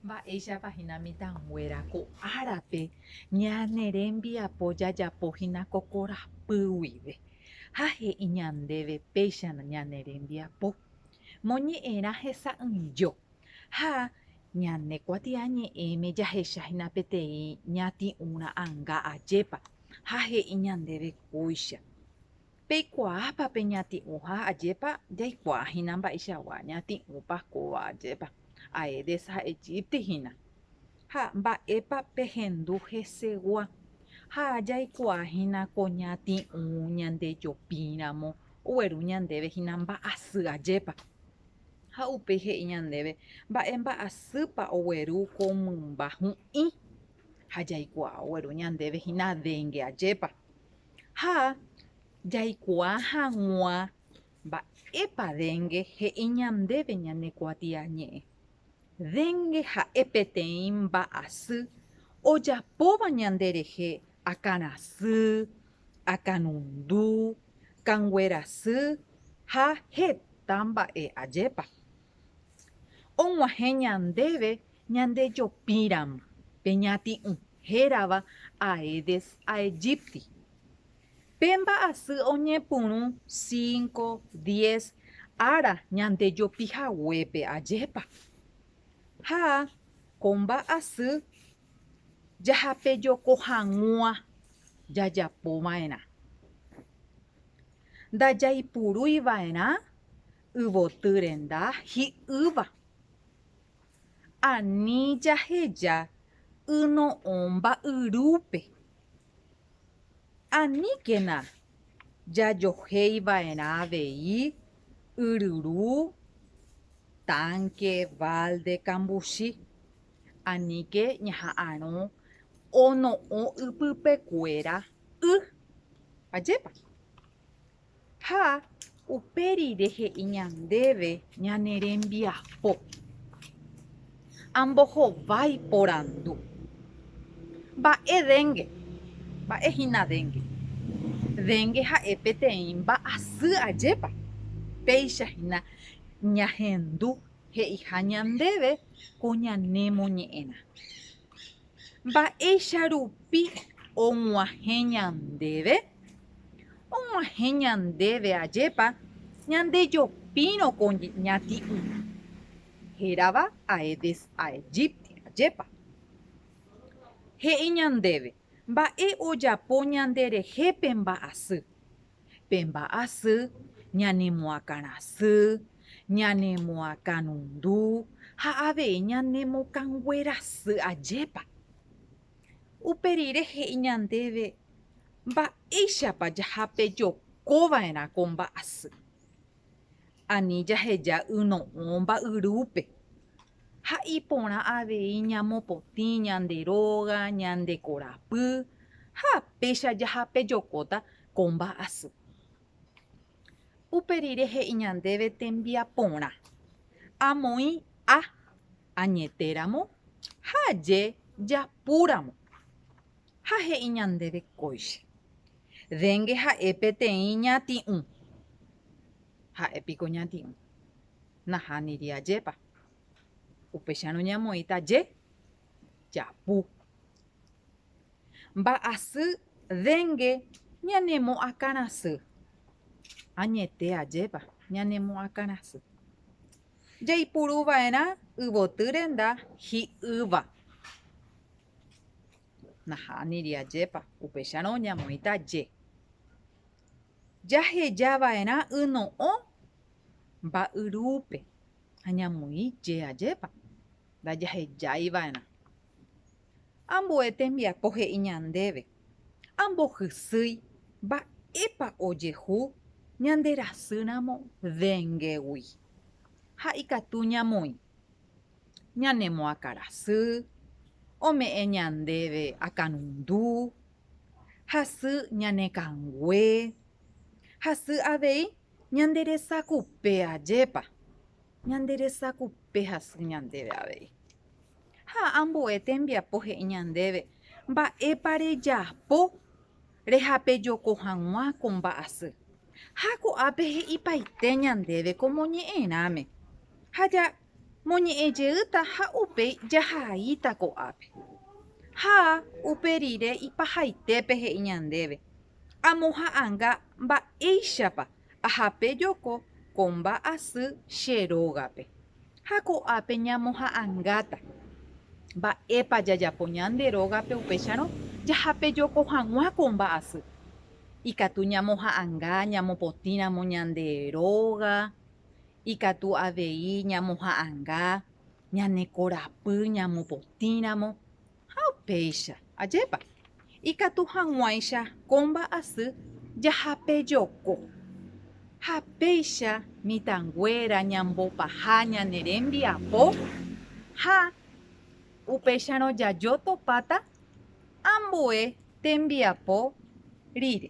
Mba'éichapa hína mitãnguéra ko árape ñane rembiapo jajapo hína ko korapy guive, ha he'i ñandéve péicha ñane rembiapo moñe'ẽrã hesa'ỹijo, ha ñane kuatiañe'ẽme jahecha hína peteĩ ñati'ũ ra'ãnga ajépa, ha he'i ñandéve kóicha. Peikuaápa peñati'ũha ajépa? Jaikuaa hína mba'eichagua ñati'ũpa kóva ajépa. Aedes ha Egypti hína. Ha mba'épa pehendu hesegua? Ha jaikuaa hína ko ñati'ũ ñandejopíramo ogueru ñandéve hína mba'asy ajépa. Ha upéi he'i ñandéve mba'e mba'asýpa ogueru ko mymba hu'ĩ. Ha jaikuaa ogueru ñandéve hína dengue ajépa. Ha jaikuaa hag̃ua mba'épa dengue he'i ñandéve ñane kuatiañe'ẽ. Dengue ha'e peteĩ mba'asy ojapóva ñande rehe akãrasy, akanundu, kanguerasy ha heta mba'e ajépa. Og̃uahẽ ñandéve ñande jopíramo pe ñati'ũ. hérava Aedes aegypti. Pe mba'asy oñepyrũ cinco, diez ára ñande jopi haguépe, ajépa? Ha ko mba'asy jahapejoko hag̃ua jajapo va'erã. Ndajaipurúi va'erã yvoty renda hi'ýva. Ani jaheja yno'õ mba'yrúpe. Aníkena jajohéiva'erã avei yryru, tánke, válde, kambuchi. Aníke ñaha'arõ ono'õ ypypekuéra y. Ajépa? Ha upe rire he'i ñandéve ñane rembiapo, Ambohovái porandu, Mba'e déngue? Mba'e hína déngue? Déngue ha'e peteĩ mba'asy ajépa? Péicha hína ñahendu he'iha ñandéve ko ñanemoñe'ẽna. Mba'éicha rupi og̃uahẽ ñandéve? Og̃uahẽ ñandéve ajépa ñandejopírõ ko ñati'ũ, hérava Aedes aegypti, ajépa he'i ñandéve mba'e ojapo ñanderehe pe mba'asy. pe mba'asy, ñanemoakãrasy, ñanemoakãrundu ha avei ñanemokãnguerasy ajépa. Upe rire he'i ñandéve mba'éichapa jahapejoko va'erã ko mba'asy. Ani jaheja yno'õ mba'yrúpe ha iporã avei ñamopotĩ ñande róga, ñande korapy ha péicha jahapejokóta ko mba'asy. Upe rire he'i ñandéve tembiaporã, amoĩ a añetéramo ha aje japúramo. Ha he'i ñandéve kóicha, Dengue ha'e peteĩ ñati'ũ. Ha'e piko ñati'ũ. Nahániri ajépa. Upéicharõ ñamoĩta je japu. Mba'asy dengue ñanemoakãrasy. Añete ajépa ñanemoakãrasy. Jaipuru va'erã yvoty renda hi'ýva. Nahániri ajépa, upéicharõ oñamoĩta je. Jaheja va'erã yno'õ mba'yrúpe, Añamoĩ je ajépa, ndajahejáiva'erã. Ambue tembiapo he'i ñandéve, ambohysýi mba'épa ojehu ñande rasýramo dengegui. Ha ikatu ñamoĩ, ñanemoakãrasy, ome'ẽ ñandéve akãrundu, hasy ñanekãngue, hasy avei Ñande resakupe ajépa ñande resakupe hasy ñandéve avei. Ha ambue tembiapo he'i ñandéve mba'épa rejapo rehapejoko hag̃ua ko mba'asy. Ha ko'ápe he'ipaite ñandéve ko moñe'ẽrãme, ha ja moñe'ẽ jeýta ha upéi jahaíta ko'ápe. Ha upe rire ipahaitépe he'i ñandéve, Amoha'ãnga mba'éichapa ahape joko ko mba'asy che rógape. Ha ko'ápe ñamoha'ãngáta. Mba'épa jajapo ñande rógape upéicharõ jahape joko hag̃ua ko mba'asy? Ikatu ñamoha'ãnga ñamopotĩ ramo ñande róga, ikatu avei ñamoha'ãnga ñane korapy ñamopotĩ ramo. Ha upéicha, ajépa, ikatu hag̃uáicha ko mba'asy jahapejoko. Ha péicha mitãnguéra ñambopaha ñane rembiapo ha upéicharõ jajo topáta ambue tembiapo rire.